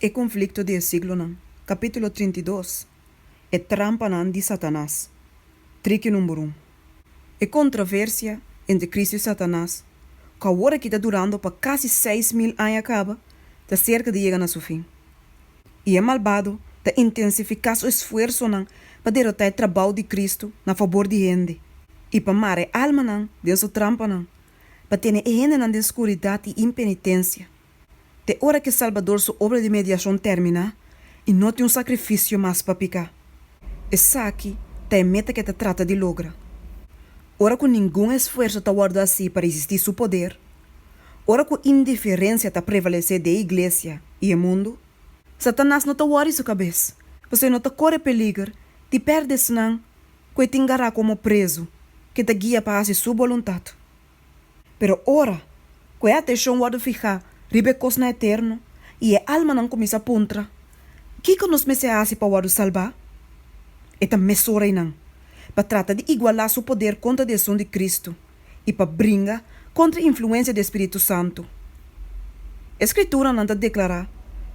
E konflikto di e siglonan, kapítulo trinta i dos, E trampanan di Satanas, triki number un, E kontraversia entre Kristu i Satanas, ku awor aki ta durando pa kasi seis mil aña kaba, ta serka di yega na su fin. I e malbado ta intensifiká su esfuersonan pa derotá e trabou di Kristu na fabor di hende i pa mara e almanan den su trampanan, pa tene e hendenan den skuridat i impenitensia. te ora ke Salbador su obra di mediashon tèrmina i no tin un sakrifisio mas pa piká. Esaki ta e meta ke ta trata di logra. Ora ku ningun esfuerso ta wòrdu hasi pa resistí su poder, ora ku indiferensia ta prevalesé den e iglesia i e mundu, Satanas no ta wòri su kabes, pasobra e no ta kore peliger di pèrdè esnan ku e tin gará komo prezu ke ta guia pa hasi su boluntat. Pero ora ku e atenshon wòrdu fihá riba e kosnan eterno i e almanan kuminsá puntra, Kiko nos mester hasi pa wòrdu salbá? e ta mesun reinan pa trata di igualá su poder kontra di Esun di Kristu i pa bringa kontra e influensia di e spiritu santu. E Skrituranan ta deklará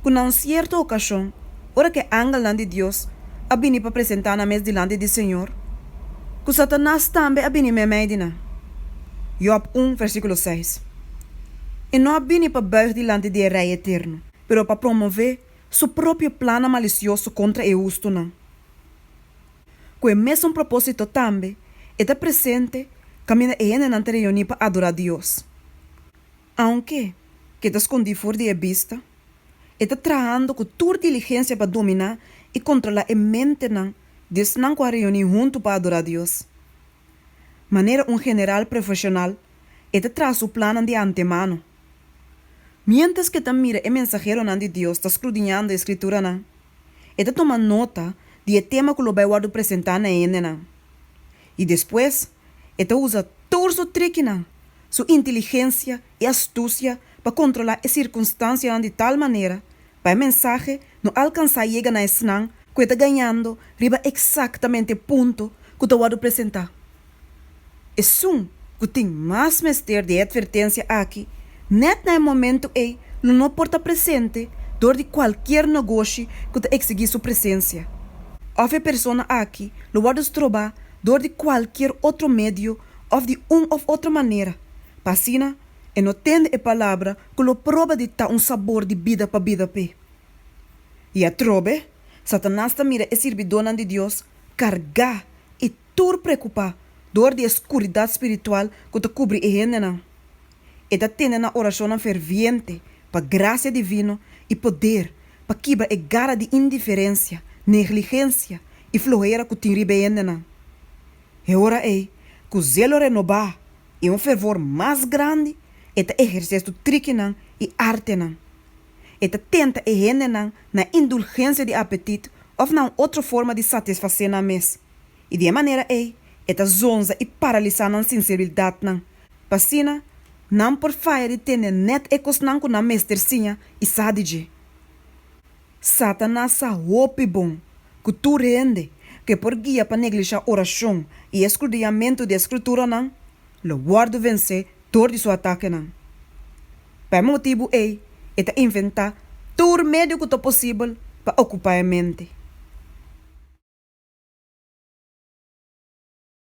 ku na un sierto okashon, ora ku e angelnan di Dios a bini pa presentá nan mes dilanti di Señor, ku Satanas tambe a bini meimei di nan. Jòb un, versíkulo seis. E no a bini pa bùig dilanti di e Rei eterno, pero pa promové su propio plannan malisioso kontra e hustunan. Ku e mesun propósito tambe, e ta presente kaminda e hendenan ta reuní pa adorá Dios. Aunke ke ta skondí for di e bista, e ta trahando ku tur diligensia pa dominá i kontrolá e mentenan di esnan ku a reuní huntu pa adorá Dios. Manera un general profeshonal, e ta traha su plannan di antemano. Miéntras ku e ta mira e mensaheronan di Dios ta skrudiñando e Skrituranan, e ta toma nota di e tema ku lo bai wòrdu presentá na hendenan, i despues, E ta usa tur su trikinan, su inteligensia i astusia pa kontrolá e sirkunstansianan di tal manera pa e mensahe no alkansá yega na esnan ku e ta gañando riba eksaktamente e punto ku ta wòrdu presentá. Esun ku tin mas mester di e atvertensia aki nèt na e momentu ei lo no por ta presente dor di kualkier nogoshi ku ta eksigí su presensia òf e persona aki lo wòrdu strobá dor di kualkier otro medio òf di un òf otro manera, pa asina e no tende e palabra ku lo proba di ta un sabor di bida pa bida p'e. I atrobe, Satanas ta mira e sirbidónan di Dios kargá i tur preokupá dor di e skuridat spiritual ku ta kubri e hendenan. e ta tene nan oracionnan ferviente pa gracia divino y poder pa kibra e gara di indiferencia, negligencia y flohera cu tin riba e hendenan. E ora ey, cu zelo renoba y un fervor mas grandi, e ta eherce su trikinan y artenan. E ta tenta e hendenan na indulgencia di apetit of na un otro forma di satisface nan mes, y di e manera ey e ta zonza y paralisa nan sinceridadnan. pa asina nan por faya di tene nèt e kosnan ku nan mester siña i sa di dje. Satanas sa hopi bon ku tur hende ke por guia pa neglishá orashon i eskruduyamentu di e Skrituranan lo wòrdu vensé dor di su atakenan. Pa e motibu ei e ta inventá tur medio ku ta posibel pa okupá e mente.